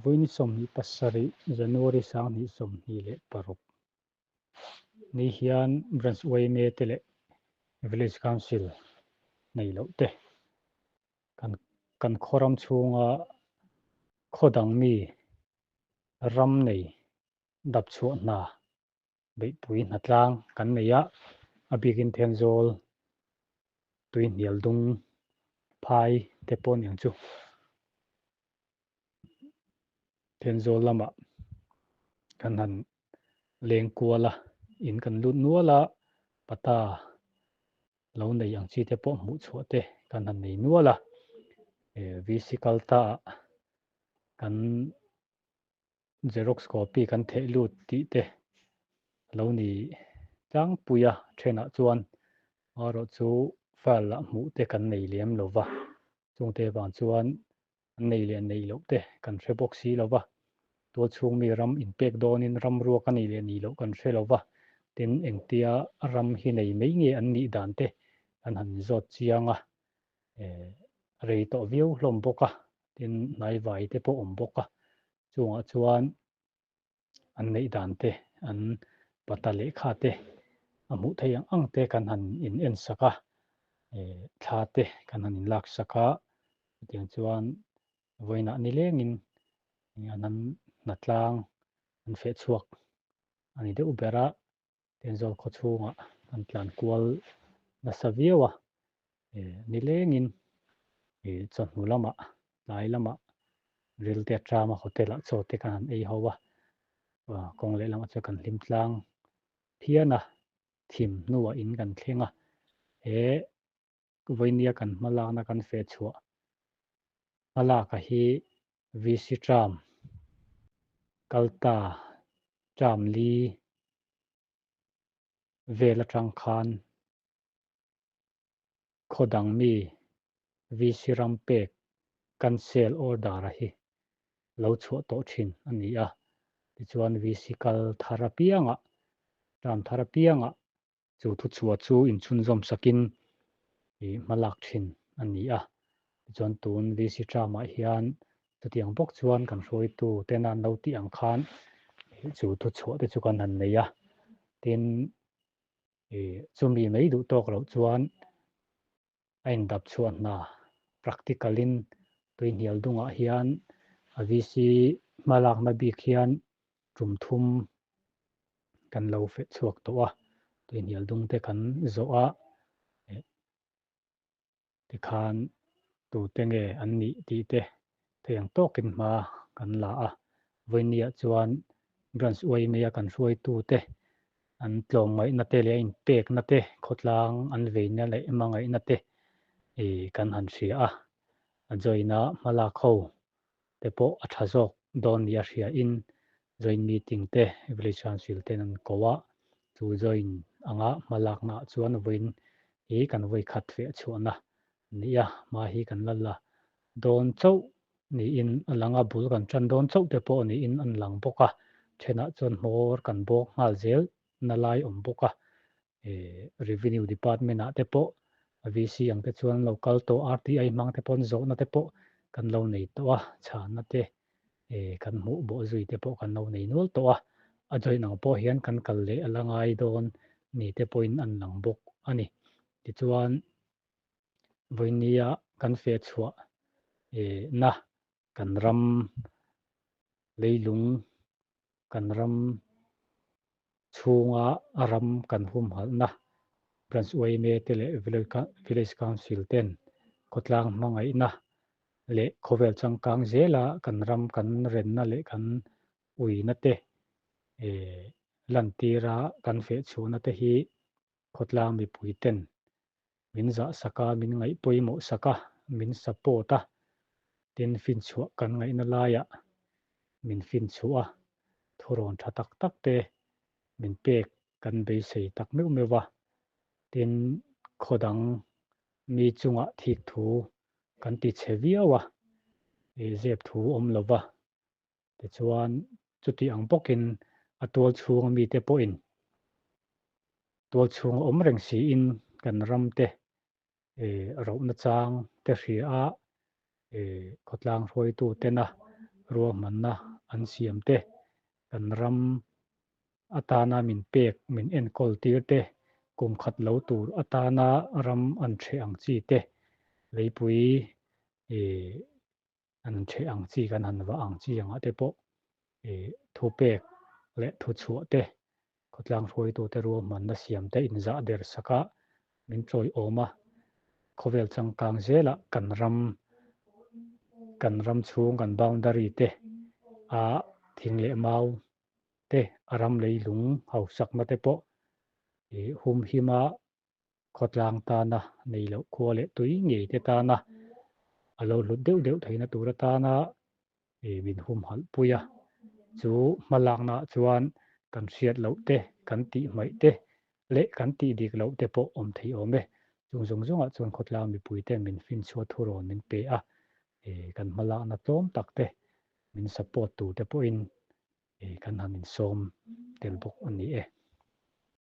Vawini sawmhnih pasarih January sanghnih sawmhnih leh paruk ni hian Branch Uaime te leh Village Council nei loh te kan kan khawram chhunga khaw dang mi ram nei dap chhuah hna beihpui hna tlang kan nei a, a bikin thian zawl tui hnial dung phai te pawh ni ang chu thian zawl lamah kan han leng kual a, in kan lut nual a, pata lo nei ang chi te pawh hmuh chhuah te kan han nei nual a, vc kal ta ah kan. Xerox copy kan theih lut tih te a lo ni tlangpui a, thenah chuan arawh chu file ah hmuh te kan nei lem lo va, chungte avang chuan an nei leh neih loh te kan hre bawk si lo va, tual chhung mi ram in pek dawnin ram ruak a nei leh neih loh kan hre lo va, tin engtia ram hi nei mai nge an nih dan te kan han zawt chiang a, rei tawh viau hlawm bawk a tin hnai vai te pawh awm bawk a chungah chuan an neih dan te an pata leh kha te a hmuh theih ang ang te kan han in en sak a thla te kan han in lak sak a tiang chuan vawiinah ni leng in an han hna tlang an feh chhuak a ni deuh ber a Tenzol khaw chhunga an tlan kual nasa viau a nilengin chawhnu lama tlai lama rilte atanga hotel ah chaw te kan han ei ho a kawng leh lamah chuan kan hlim tlang phian a thim hnuah in kan thleng a he Vawihnia kan hmalakna kan fehchhuah hmalakah hi VC Tram, Kalta Tram Li vel atang khan khaw dang mi VC ram pek cancel order a hi lo chhuah tawh thin a ni a. Tichuan VC kal thar apiangah, tram thar apiangah chu thuchhuah chu inchhunzawm sakin i hmalak thin a ni a. Tichuan tun VC Tramah hian chutiang bawk chuan kan hruaitutena an lo tih ang khan i chu thuchhuah te chu kan han nei a. Tin, i chumi mai duh tawk loh chuan a indap chhuah hna. Practical in tui hnial dungah hian a VC hma lakna bik hian tum thum kan lo feh chhuak tawh a, tui hnial dung te kan zawh a, tikhan tute nge an nih tih te theiang tawkin hma kan la a, vawinia chuan branch uai maia kan hruaitute an tlawm ngaihnate leh a inpeknate khawtlang an veina leh ema ngaihnate kan han hria a, a join a hma lak ho te pawh a tha zawk dawn nih a hriain join meeting te village council ten an ko a, chu join anga hma laknaah chuan vawiin hi kan vawi khat leh chhuahna Ni a, hma hi kan la la dawn chauh niin a lang a, bul kan tan dawn chauh te pawh niin an lang bawk a, thenah chuan hmawr kan bawk nghal zel nalai awm bawk a, Revenue Department ah te pawh VC ang te chuan an lo kal tawh a, RTI hmang te pawn zawhna te pawh kan lo nei tawh a, chhana te kan hmuh bawh zui te pawh kan lo nei nual tawh a, a join ang pawh hian kan kal leh a la ngai dawn ni te pawhin an lang bawk a ni. Tichuan Vawinnia kan fe chhuah e na kan ram leilung kan ram chhunga ram kan humhalh na Branch Uaime te leh Village Council ten khawtlang hmangaih na leh khawvel changkang zela kan ram kan ren na leh kan ui na te e lantira kan fe chhuh na te hi khawtlang mipui ten min zah sak a, min ngaih pawimawh sak a, min support a, tin finchhuah kan ngaihna laiah min finchhuh a, thurawn tha tak tak te min pek kan beisei tak meuh meuh a, tin khaw dang mi chungah thik thu kan ti che viau a, zep thu awm lova, Tichuan, chuti ang bawkin a tual chhunga mite pawhin tual chhunga awm reng siin kan ramte rohna chang te hria khawtlang hruaitutena ruahmanna an siam te, kan ram atana min pek min enkawl tir te, kum khat lo tur atana ram an ṭheh ang chi te, leipui an chhe ang chi kan han va ang chi angah te pawh i thu pek leh thu chhuah te khawtlang hruaitu te ruahmanna siam te inzah der saka min tlawiawm a khawvel changkang zela kan ram kan ram chhung kan boundary te a thing leh mau te a ram lei lung hausakna te pawh i humhima khawtlang tana nei loh khua leh tui ngei te tana a lo hlut deuh deuh theihna tur atana ih min humhalh pui a, chu hma laknaah chuan kan hriat loh te, kan tih hmaih te leh kan tih dik loh te pawh awm thei awm e, chung zawng zawngah chuan khawtlang mipui ten min fin chhuah thu rawn min pe a, ih kan hma lakna tlawm tak te min support tur te pawhin ih kan han insawm tel bawk a ni e.